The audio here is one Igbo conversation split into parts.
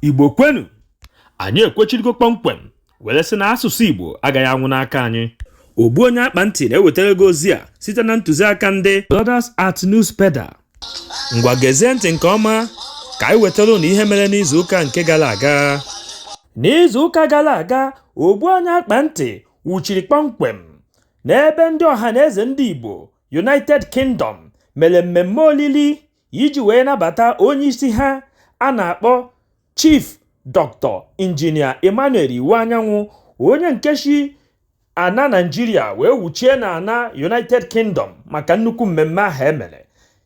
igbo kwenu anyị ekwechirigo kpọmkwem were sị na asụsụ igbo agaghị anwụ n'aka anyị ogbu onye akpa ntị na-ewetara gị ozi a site na ntụziaka ndị Brothers at Newspedia ngwa gezie ntị nke ọma ka anyị wetara ụnụ ihe mere n'izuụka nke gara aga n'izuụka gara aga ogbu onye akpa ntị wuchiri kpọmkwem n'ebe ndị ọha na eze ndị igbo United Kingdom mere mmemme olili iji wee nabata onye isi ha a na-akpọ Chief Dr. Injinia Emmanuel Iwuanyanwụ, onye nke si ana Naịjirịa wee wuchie n'ana United Kingdom maka nnukwu mmemme ahụ e mere.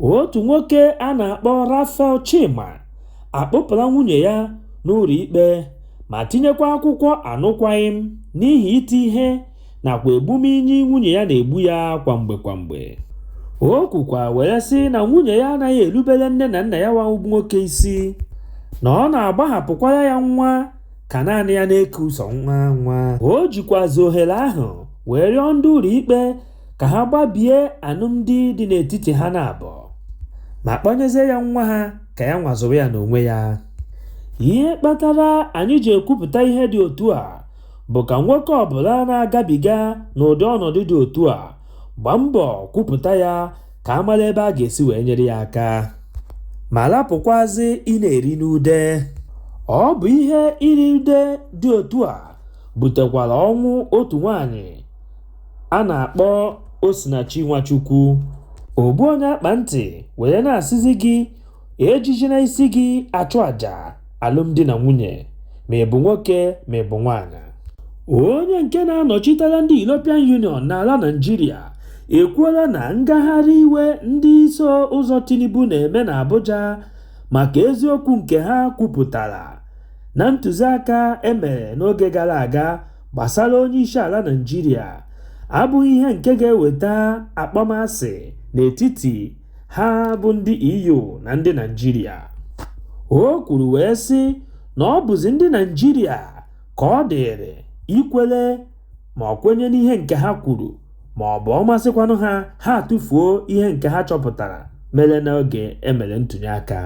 otu nwoke a na-akpọ Raphael Chima akpụpụla nwunye ya n'ụlọ ikpe ma tinyekwa akwụkwọ anụkwaghịm n'ihi iti ihe nakwa egbumnyi nwunye ya na-egbu ya kwa mgbe kwa mgbe o kwukwa were sị na nwunye ya anaghị erubere nne na nna ya nwa bụ nwoke isi na ọ na-agbahapụkwara ya nwa ka naanị ya na-eku ụzọ nwa nwa o jikwazi ohere ahụ wee rịọ ndị ụlọikpe ka ha gbabie alụmdi dị n'etiti ha na abụọ ma kpọnyezie ya nwa ha ka ya nwa zụrụ ya n'onwe ya ihe kpatara anyị ji ekwupụta ihe dị otu a bụ ka nwoke ọbụla na-agabiga n'ụdị ọnọdụ dị otu a gbaa mbọ kwupụta ya ka a mara ebe a ga-esi wee nyere ya aka ma lapụkwazị ịna-eri n'ude ọ bụ ihe iri ude dị otu a butekwara ọnwụ otu nwanyị a na-akpọ Osinachi Nwachukwu ogbu onye akpa ntị were na-asịzi gị ejijina isi gị achụ àjà alụmdi na nwunye ma ị bụ nwoke ma ị bụ nwaanyị onye nke na-anọchitere ndị European Union n'ala Naịjirịa ekwuola na ngagharị iwe ndị iso ụzọ Tinubu na-eme n'Abuja maka eziokwu nke ha kwupụtara na ntụziaka e mere n'oge gara aga gbasara onyeisiala Naịjirịa abụghị ihe nke ga-eweta akpọmasị n'etiti ha bụ ndị EU na ndị Naịjirịa o kwuru wee sị na ọ bụzi ndị Naịjirịa ka ọ dịịrị ikwere ma ọ kwenye n'ihe nke ha kwuru ma ọ bụ ọ masịkwanụ ha ha atụfuo ihe nke ha chọpụtara mere n'oge e mere ntụnye aka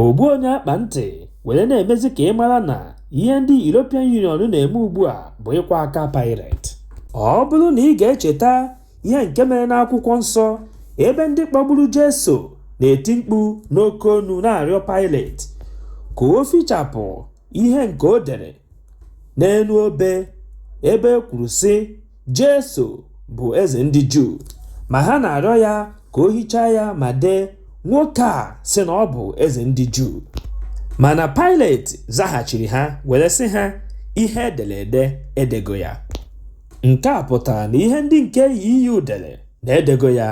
ogbu onye akpa ntị were na-emezi ka ị mara na ihe ndị European Union na-eme ugbu a bụ ịkwa aka Pilate ọ bụrụ na ị ga-echeta ihe nke mere n'akwụkwọ nsọ ebe ndị kpọgburu Jesu na-eti mkpu n'oke onu na-arịọ Pailet ka o fichapụ ihe nke o dere n'elu obe ebe e kwuru sị Jesu bụ eze ndị Juu ma ha na-arịọ ya ka o hichaa ya ma dee nwoke a sị na ọ bụ eze ndị Juu mana Pailet zaghachiri ha were sị ha ihe e dere ede edego ya Nke a pụtara na ihe ndị nke EU dere na edego ya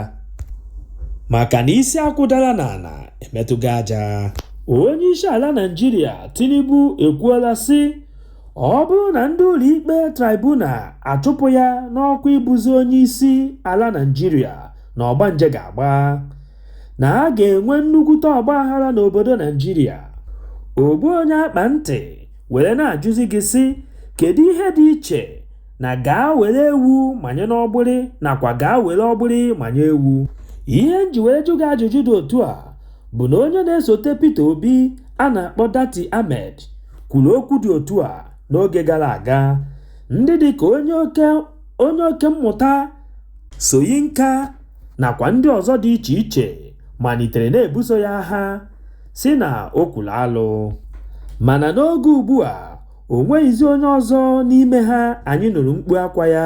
maka na isi akwụ dara n'ala emetụgo aja. Onyeisiala Naịjirịa Tinubu ekwuola sị ọ bụrụ na ndị ụlọikpe tribunal achụpụ ya n'ọkwa ịbụzi onyeisi ala Naịjirịa na ọgbanje ga-agba, na a ga-enwe nnukwute ọgbaghara n'obodo Naịjirịa. Ogbu onye akpa ntị. were na-ajụzi gị sị kedu ihe dị iche na gaa were ewu manye n'ọgbụrị nakwa gaa were ọgbụrị manye ewu ihe nji were jụ gị ajụjụ dị otu a bụ na onye na-esote Peter Obi a na-akpọ Datti Ahmed kwuru okwu dị otu a n'oge gara aga ndị dị ka onye oke mmụta Soyinka nakwa ndị ọzọ dị iche iche malitere na-ebuso ya agha sị na o kwuru alụ mana n'oge ugbu a o nweghịzi onye ọzọ n'ime ha anyị nụrụ mkpu akwa ya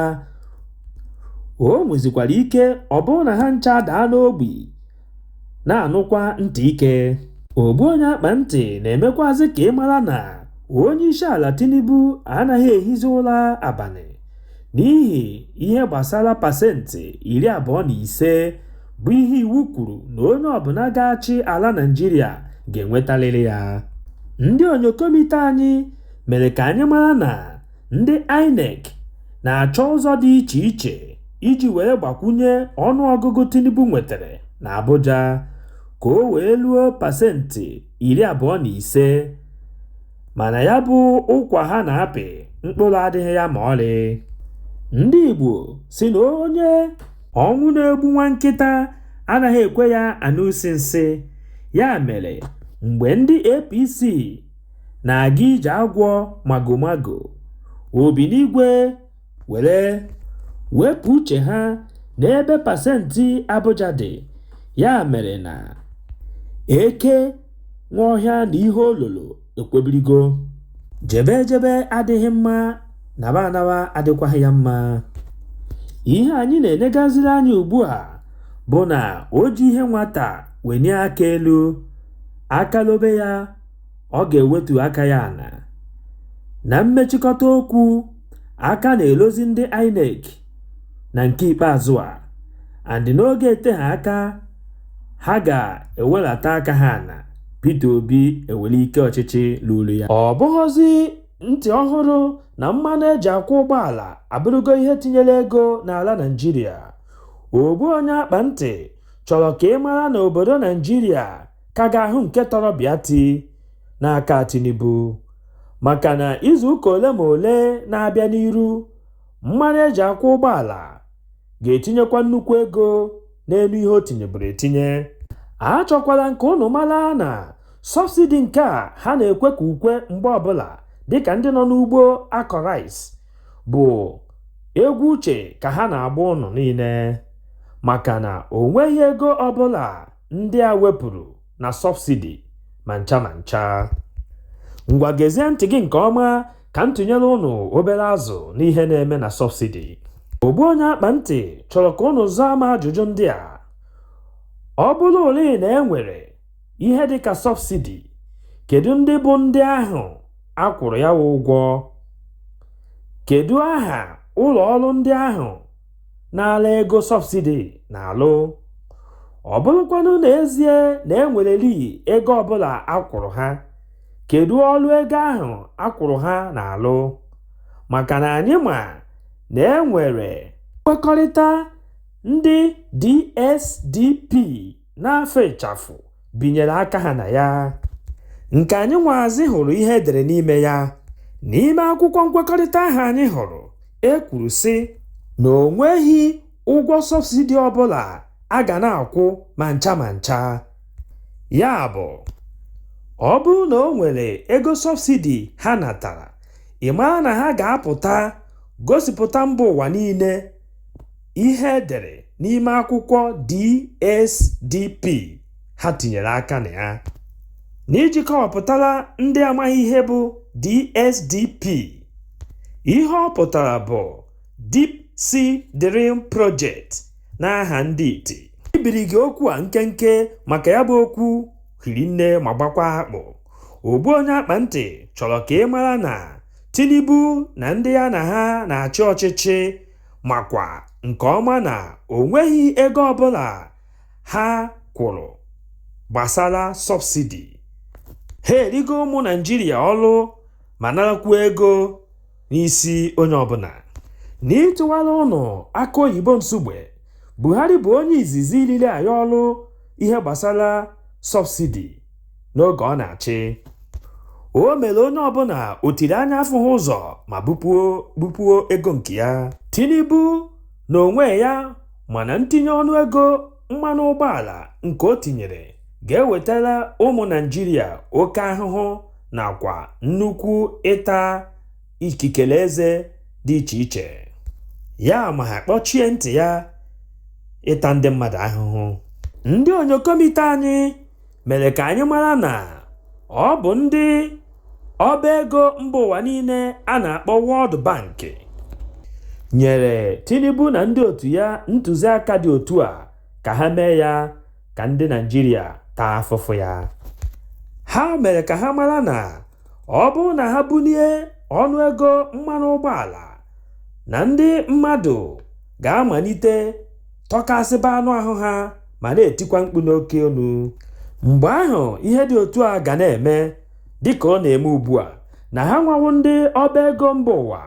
o nwezikwara ike ọ bụrụ na ha ncha daa n'ogbi na-anụkwa ntị ike ogbu onye akpa ntị na-emekwazị ka ị mara na onye isi ala Tinubu anaghị ehizi ụra abalị n'ihi ihe gbasara pasentị iri abụọ na ise bụ ihe iwu kwuru na onye ọbụla ga-achị ala Naịjirịa ga-enwetalịrị ya. Ndị onyokomite anyị mere ka anyị mara na ndị INEC na-achọ ụzọ dị iche iche iji were gbakwunye ọnụọgụgụ Tinubu nwetara n'Abuja ka o wee ruo pasentị iri abụọ na ise. Mana ya bụ ụkwa ha na-apị mkpụrụ adịghị ya ma ọlị. Ndị Igbo sị na onye ọnwụ na-egbu nwa nkịta anaghị ekwe ya anụ isi nsị. Ya mere, mgbe ndị APC na-aga ije agwọ magomago, Obinigwe were wepụ uche ha n'ebe pasentị Abuja dị, ya mere na eke nwe ọhịa na ihe o lolo ekwebirigo. Jebe ejebe adịghị mma, naba anaba adịkwaghị ya mma. Ihe anyị na-enegaziri anya ugbu a bụ na o ji ihe nwata wenie aka elu, aka lobe ya. ọ ga-ewetu aka ya ana na mmechikọta okwu aka na-elozi ndị INEC na nke ikpeazụ a and n'oge eteghị aka ha ga-ewelata aka ha ana Peter Obi ewere ike ọchịchị luru ya ọ bụghọzi ntị ọhụrụ na mmanụ e ji akwụ ụgbọala abụrụgo ihe tinyere ego n'ala Naịjirịa ogbu onye akpa ntị chọrọ ka ị mara na obodo Naịjirịa ka ga-ahụ nke tọrọ bịati n'aka Tinubu maka na izuụka ole ma ole na-abịa n'iru mmanụ e ji akwụ ụgbọala ga-etinyekwa nnukwu ego n'enu ihe o tinyeburu etinye achọkwara m ka ụnụ mara na sọbsidi nke a ha na-ekwe ka ukwe mgbe ọbụla dịka ndị nọ n'ugbo akọ rice bụ egwu uche ka ha na-agba ụnụ niile maka na o nweghị ego ọbụla ndị a wepụrụ na sọbsidi ma ncha ma ncha ngwa gezie ntị gị nke ọma ka m tụnyere ụnụ obere azụ n'ihe na-eme na sọbsidi ogbu onye akpa ntị chọrọ ka ụnụ zaa m ajụjụ ndị a ọ bụrụ ole na e nwere ihe dị ka sọbsidi kedu ndị bụ ndị ahụ a kwụrụ ya ụgwọ kedu aha ụlọ ọrụ ndị ahụ nala ego sọbsidi na-alụ ọ bụrụkwanụ n'ezie na e nwereli ego ọbụla a kwụrụ ha kedu ọlụ ego ahụ a kwụrụ ha na-alụ maka na anyị ma na e nwere nkwekọrịta ndị DSDP n'afa ịchafụ binyere aka ha na ya nke anyị nwazị hụrụ ihe e dere n'ime ya n'ime akwụkwọ nkwekọrịta ahụ anyị hụrụ e kwuru sị na o nweghị ụgwọ sọbsidi ọbụla a ga na-akwụ ma ncha ma ncha ya bụ ọ bụrụ na o nwere ego sọbsidi ha natara ị mara na ha ga-apụta gosipụta mba ụwa niile ihe e dere n'ime akwụkwọ DSDP ha tinyere aka na ya n'iji kọwapụtara ndị amaghị ihe bụ DSDP ihe ọ pụtara bụ Deep Sea Drilling Project n'aha ndọtị ibiri gị okwu a nkenke maka ya bụ okwu hiri nne ma gbakwa akpụ ogbu onye akpa ntị chọrọ ka ị mara na Tinubu na ndị ya na ha na-achị ọchịchị makwa nke ọma na o nweghị ego ọbụla ha kwụrụ gbasara sọbsidi. Ha erigo ụmụ Naịjirịa ọrụ ma narakwuo ego n'isi onye ọbụla. N'ịtụwara ụnụ akụ oyibo Nsugbe, Buhari bụ onye izizi riri anyị ọrụ ihe gbasara sọbsidi. n'oge ọ na-achị o mere onye ọbụla o tiri anya afụghị ụzọ ma bupuo ego nke ya tinubu na onwe ya mana ntinye ọnụ ego mmanụ ụgbọala nke o tinyere ga-ewetara ụmụ naịjirịa oke ahụhụ nakwa nnukwu ịta ikikere eze dị iche iche ya ma ha kpọchie ntị ya ịta ndị mmadụ ahụhụ ndị onyokomite anyị mere ka anyị mara na ọ bụ ndị ọba ego mba ụwa niile a na-akpọ World Bank nyere Tinubu na ndị otu ya ntụziaka dị otu a ka ha mee ya ka ndị Naịjirịa taa afụfụ ya ha mere ka ha mara na ọ bụrụ na ha bulie ọnụego mmanụ ụgbọala na ndị mmadụ ga-amalite tọkasịba anụ ahụ ha ma na-etikwa mkpu n'oke olu. Mgbe ahụ ihe dị otu a ga na-eme, dị ka ọ na-eme ugbu a, na ha nwa wụ ndị ọba ego mba ụwa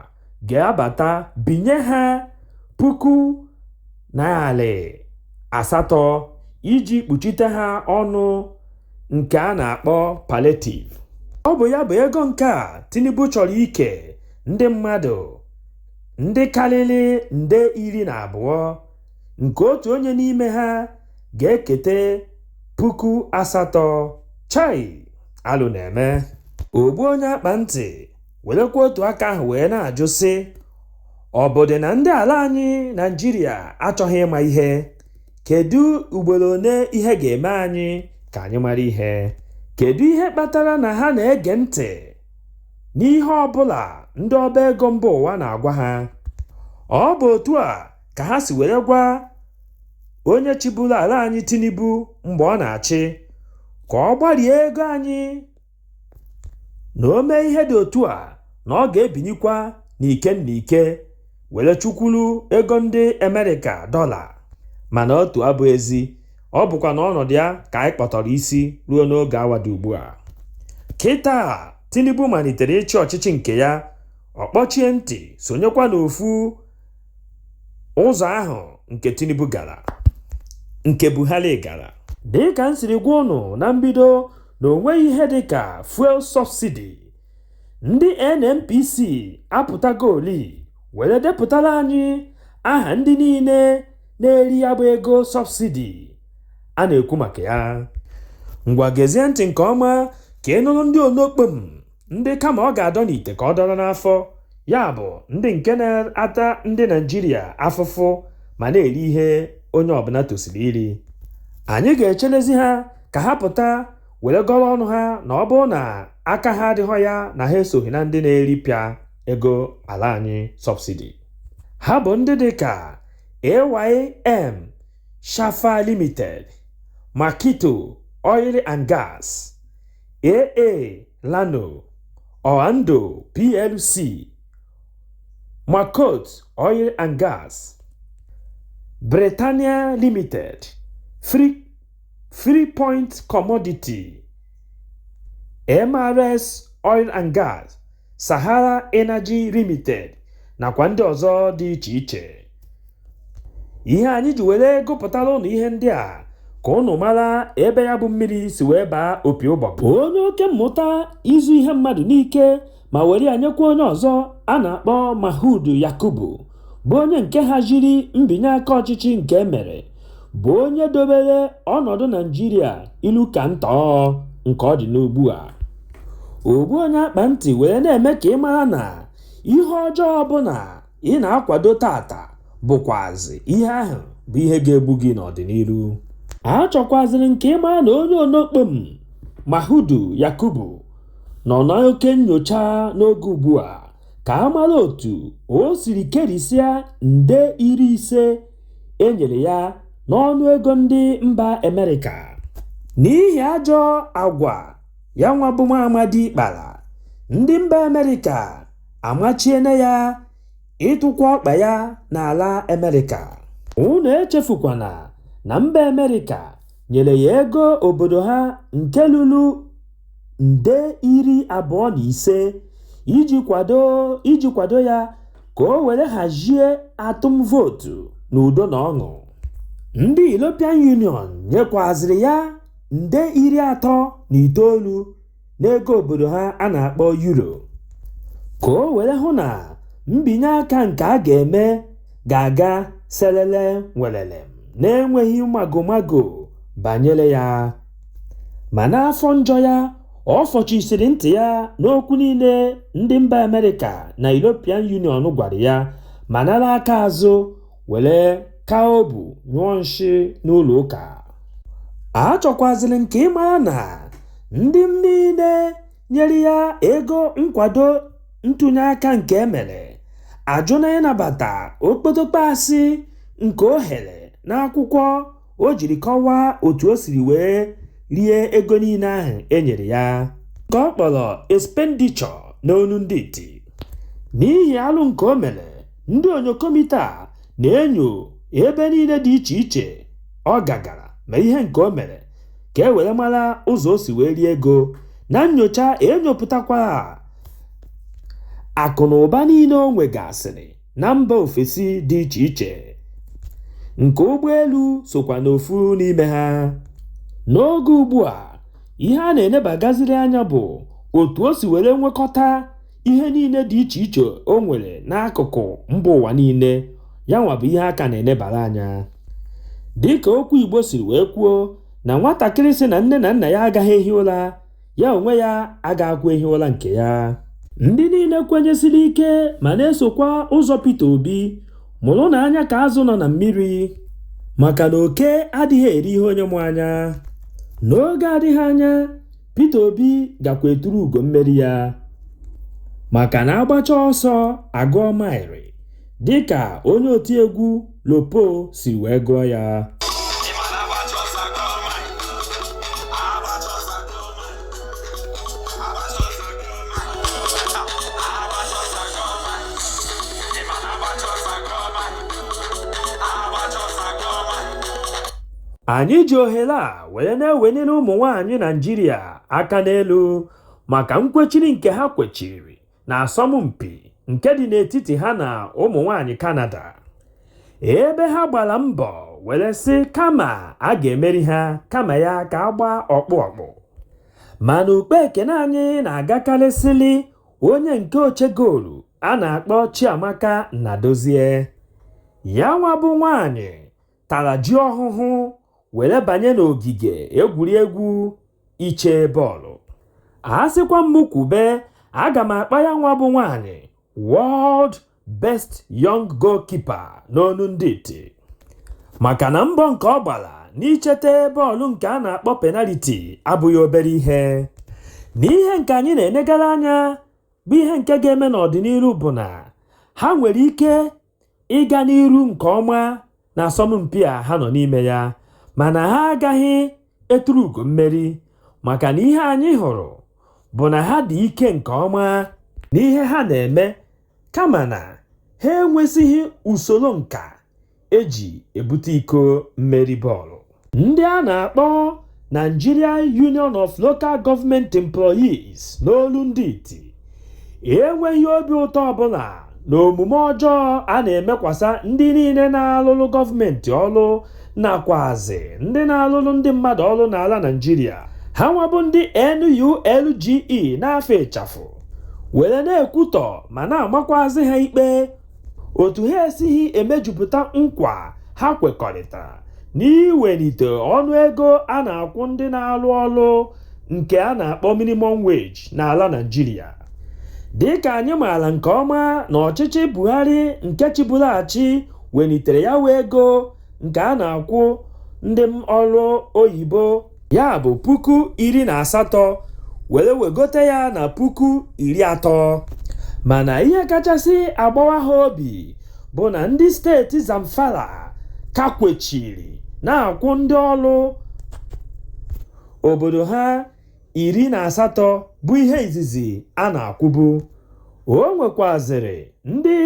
ga-abata binye ha puku narị asatọ iji kpuchite ha ọnụ nke a na-akpọ palliative. Ọ bụ ya bụ ego nke a Tinubu chọrọ ike ndị mmadụ. ndị karịrị nde iri na abụọ nke otu onye n'ime ha ga-ekete puku asatọ chai alụ na-eme ogbu onye akpa ntị werekwa otu aka ahụ wee na-ajụ sị ọ bụdị na ndị ala anyị naịjirịa achọghị ịma ihe kedu ugboro one ihe ga-eme anyị ka anyị mara ihe kedu ihe kpatara na ha na-ege ntị n'ihe ọ bụla ndị ọba ego mba ụwa na-agwa ha. Ọ bụ otu a ka ha si were gwa onye chịburu ala anyị Tinubu mgbe ọ na-achị ka ọ gbarie ego anyị na o mee ihe dị otu a na ọ ga-ebinikwa n'ike n'ike. were chukwuru ego ndị Amerịka dọla mana otu abụ ezi ọ bụkwa n'ọnọdụ ya ka anyị kpọtọrọ isi ruo n'oge awa dị ugbu a kịta Tinubu malitere ịchị ọchịchị nke ya ọ kpọchie ntị sonyekwa n'ofu ụzọ ahụ nke Tinubu gara nke Buhari gara dịka m siri gwa unu na mbido na o nweghị ihe dịka fuel subsidy Ndị NNPC apụtagoli were depụtara anyị aha ndị niile na-eri ya bụ ego sọbsidi a na-ekwu maka ya. Ngwa gezie ntị nke ọma ka ị nụrụ ndị onokpom ndị kama ọ ga-adọ n'ite ka ọ dọrọ n'afọ, ya bụ ndị nke na-ata ndị Naịjirịa afụfụ ma na-eri ihe onye ọbụla tosiri iri. Anyị ga-echelezi ha ka ha pụta were gọrọ ọnụ ha na ọ bụrụ na aka ha adịghọ ya na ha esoghị na ndị na-eripịa ego ala anyị subsidy ha bụ ndị dị ka AYM Shafa Limited Makito Oil and Gas AA Rano Oando PLC Makot Oil and Gas Britannia Limited Free Free Point Commodity, MRS Oil and Gas, Sahara Energy Limited nakwa ndị ọzọ dị iche iche. Ihe anyị ji were gụpụtara ụnụ ihe ndị a ka ụnụ mara ebe ya bụ mmiri si wee baa opi ụgbọgụrụ. Onye oke mmụta izu ihe mmadụ n'ike ma were ya nyekwa onye ọzọ a na-akpọ Mahudu Yakubu bụ onye nke haziri mbinye aka ọchịchị nke e mere bụ onye dobere ọnọdụ Naịjirịa ilu ka ntọọ nke ọ dị n'ugbu a ogbu onye akpa ntị were na-eme ka ị mara na ihe ọjọọ ọbụla ị na-akwado taata bụkwazị ihe ahụ bụ ihe ga-egbu gị n'ọdịnihu achọkwazịrị m ka ị mara na onye onokpom Mahudu Yakubu nọ n'oke nnyocha n'oge ugbu a ka a mara otu o siri kerisịa nde iri ise e nyere ya n'ọnụ ego ndị mba Amerịka n'ihi ajọ agwa ya nwa bụ nwa amadị kpara. Ndị mba Amerịka amachiena ya ịtụkwa ọkpa ya n'ala Amerịka. Unu echefukwana na mba Amerịka nyere ya ego obodo ha nke lulu. nde iri abụọ na ise iji kwado ya ka o were hazie atụm vootu n'udo na ọṅụ ndị European Union nyekwaziri ya nde iri atọ na itoolu n'ego obodo ha a na-akpọ euro ka o were hụ na mbinye aka nke a ga-eme ga-aga selele welele na-enweghị magomago banyere ya. Ma n'afọ njọ ya, ọ fọchisiri ntị ya n'okwu niile ndị mba Amerịka na European Union gwara ya ma nara aka azụ were kaa obu nyụọ nshị n'ụlọ ụka. Achọkwazịrị m ka ị mara na ndị niile nyere ya ego nkwado ntụnye aka nke e mere ajụna ịnabata okpotokpo asị nke o ghere n'akwụkwọ o jiri kọwaa otu o siri wee rie ego niile ahụ e nyere ya nke ọ kpọrọ expenditure n'onu ndị iti n'ihi alụ nke o mere ndị onyokomita na-enyo ebe niile dị iche iche ọ gagara ma ihe nke o mere ka e were mara ụzọ o si wee rie ego na nnyocha e nyopụtakwara akụ na ụba niile o nwegasịrị na mba ofesi dị iche iche nke ụgbọelu sokwa n'ofu n'ime ha n'oge ugbu a ihe a na-enebagaziri anya bụ otu o si were nwekọta ihe niile dị iche iche o nwere n'akụkụ mba ụwa niile ya nwa bụ ihe a ka na-enebara anya dịka okwu Igbo siri wee kwuo na nwatakịrị sị na nne na nna ya agaghị ehi ụra ya onwe ya agaghịkwa ehi ụra nke ya ndị niile kwenyesiri ike ma na-esokwa ụzọ Peter Obi mụrụnụ anya ka azụ nọ na mmiri maka na oke adịghị eri ihe onye mụ anya n'oge adịghị anya Peter Obi gakwa eturu ugo mmeri ya maka na a gbachaa ọsọ a gụọ maịrị dịka onye otiegwu Lopo si wee gụọ ya anyị ji ohere a were na-eweniri ụmụ nwaanyị Naịjirịa aka n'elu maka nkwechiri nke ha kwechiri n'asọmpi nke dị n'etiti ha na ụmụ nwaanyị Kanada ebe ha gbara mbọ were sị kama a ga-emeri ha kama ya ka a gbaa ọkpụ ọkpụ mana ukpe ekene anyị na-agakarịsịli onye nke oche goolu a na-akpọ Chiamaka Nnadozie ya nwa bụ nwaanyị tara ji ọhụhụ were banye n'ogige egwuregwu iche bọọlụ a sịkwa m kwube aga m akpọ ya nwa bụ nwaanyị world best young goalkeeper n'onu ndị iti maka na mbọ nke ọ gbara n'ichete bọọlụ nke a na-akpọ penaliti abụghị obere ihe na ihe nke anyị na-enegara anya bụ ihe nke ga-eme n'ọdịnihu bụ na ha nwere ike ịga n'iru nke ọma n'asọmpi a ha nọ n'ime ya mana ha agaghị eturu ugo mmeri maka na ihe anyị hụrụ bụ na ha dị ike nke ọma n'ihe ha na-eme kama na ha enwesịghị usoro nka e ji ebute iko mmeri bọọlụ. ndị a na-akpọ Nigeria Union of Local Government Employees n'olu ndị iti enweghị obi ụtọ ọbụla na omume ọjọọ a na-emekwasa ndị niile na-alụlụ gọọmenti ọlụ nakwazi ndị na-alụlụ ndị mmadụ ọlụ n'ala Naịjirịa ha nwa bụ ndị NULGE n'afa ịchafụ were na-ekwutọ ma na-amakwazi ha ikpe otu ha esighị emejupụta nkwa ha kwekọrịtara n'iwelite ọnụ ego a na-akwụ ndị na-alụ ọlụ nke a na-akpọ minimum wage n'ala Naịjirịa dịka anyị maara nke ọma na ọchịchị Buhari nke chịburu achị welitere ya nwa ego nke a na-akwụ ndị ọrụ oyibo ya bụ puku iri na asatọ were wegote ya na puku iri atọ mana ihe kachasị agbawa ha obi bụ na ndị steeti Zamfara ka kwechiri na-akwụ ndị ọrụ obodo ha iri na asatọ bụ ihe izizi a na-akwụbu o nwekwazịrị ndị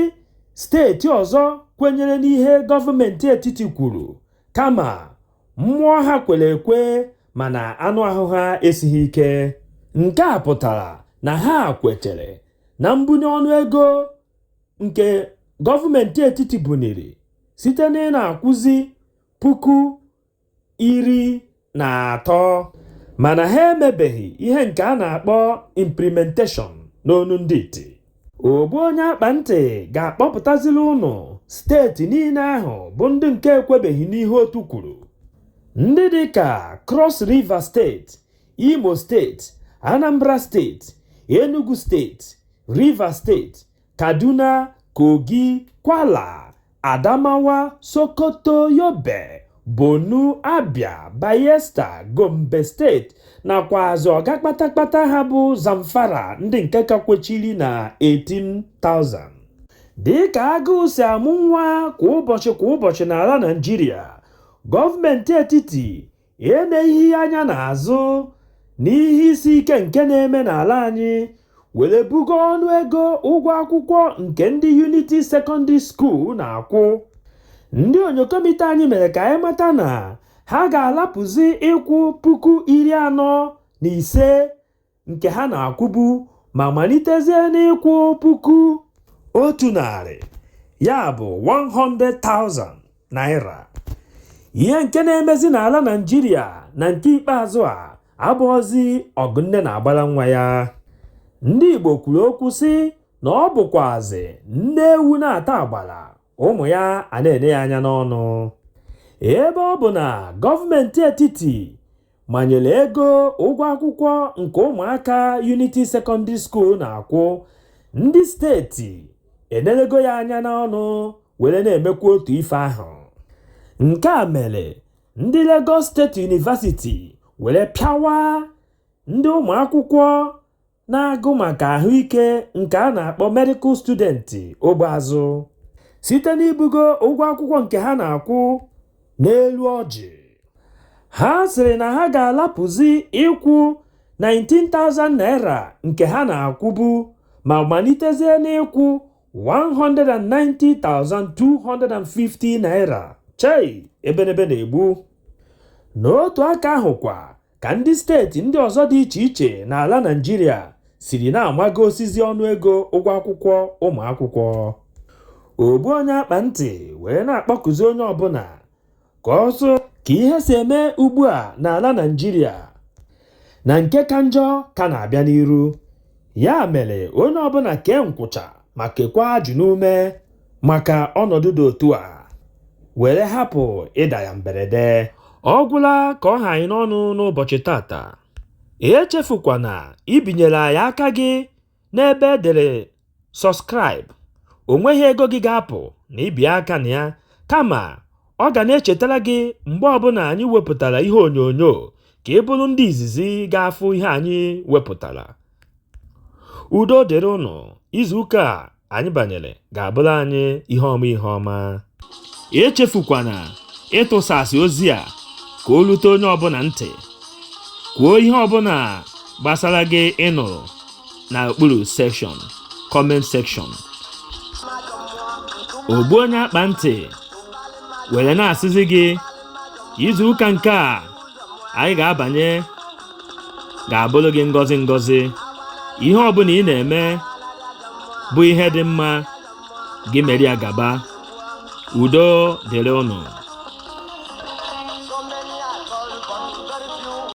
steeti ọzọ kwenyere n'ihe gọọmenti etiti kwuru kama Mmụọ ha kwere ekwe mana anụ ahụ ha esighị ike. Nke a pụtara na ha kwetere na mbunye ọnụ ego nke gọọmenti etiti buniri site na ị na-akwụzi puku iri na atọ mana ha emebeghị ihe nke a na-akpọ implementation n'onu ndị iti. Ogbu onye akpa ntị ga-akpọpụtaziri unu steeti niile ahụ bụ ndị nke ekwebeghị n'ihe otu kwuru. Ndị dị ka Cross River steeti, Imo steeti, Anambra steeti, Enugu steeti, River steeti, Kaduna, Kogi, Kwala Adamawa, Sokoto, Yobe, Borno, Abia, Bayelsa, Gombe steeti nakwazị ọga kpatakpata ha bụ Zamfara ndị nke ka kwechiri na 18,000. Dịka agụụ si amụ nwa kwa ụbọchị kwa ụbọchị n'ala Naịjirịa, gọọmenti etiti eneghị anya n'azụ n'ihe isi ike nke na-eme n'ala anyị were bugo ọnụ ego ụgwọ akwụkwọ nke ndị Unity Secondary School na-akwụ ndị onyokomite anyị mere ka anyị mata na ha ga-alapụzi ịkwụ puku iri anọ na ise nke ha na-akwụbu ma malitezie n'ịkwụ puku otu narị ya bụ 100,000 naira ihe nke na-emezi n'ala Naịjirịa na nke ikpeazụ a abụọzi ọgụ nne na-agbara nwa ya ndị igbo kwuru okwu sị na ọ bụkwazị nne ewu na-ata agbara ụmụ ya a na-ene ya anya n'ọnụ ebe ọ bụ na gọọmenti etiti manyere ego ụgwọ akwụkwọ nke ụmụaka Unity Secondary School na-akwụ ndị steeti enelego ya anya n'ọnụ were na-emekwa otu ife ahụ nke a mere ndị Lagos State University were pịawa ndị ụmụakwụkwọ na-agụ maka ahụike nke a na-akpọ medical student ogbe azụ site n'ibugo ụgwọ akwụkwọ nke ha na-akwụ n'elu ọjị ha sịrị na ha ga-alapụzi ịkwụ 19,000 naira nke ha na-akwụbu ma malitezie n'ịkwụ 190,250 naira chei ebenebe na-egbu n'otu aka ahụ kwa ka ndị steeti ndị ọzọ dị iche iche n'ala Naịjirịa siri na-amagosizi ọnụego ụgwọ akwụkwọ ụmụ akwụkwọ ogbu onye akpa ntị wee na-akpọkụzi onye ọbụna ka ọ fụ ka ihe si eme ugbu a n'ala Naịjirịa na nke ka njọ ka na-abịa n'iru ya mere onye ọbụna kee nkwụcha ma kekwa ajụ n'ume maka ọnọdụ dị otu a were hapụ ịda ya mberede ọ gwụla ka ọ ha anyị n'ọnụ n'ụbọchị tata echefukwana ibinyere anyị aka gị n'ebe e dere subscribe o nweghị ego gị ga-apụ na ibi aka na ya kama ọ ga na-echetara gị mgbe ọbụna anyị wepụtara ihe onyonyo ka ị bụrụ ndị izizi ga-afụ ihe anyị wepụtara udo dịrị ụnụ izuụka a anyị banyere ga-abụlụ anyị ihe ọma ihe ọma echefukwana ịtụsasị ozi a ka o lute onye ọbụna ntị kwuo ihe ọbụna gbasara gị ị nụrụ na okpuru section comment section ogbu onye akpa ntị were na-asịzi gị izu ụka nke a anyị ga-abanye ga-abụlụ gị ngọzi ngọzi ihe ọbụna ị na-eme bụ ihe dị mma gị mere ya gaba udo dịrị ụnụ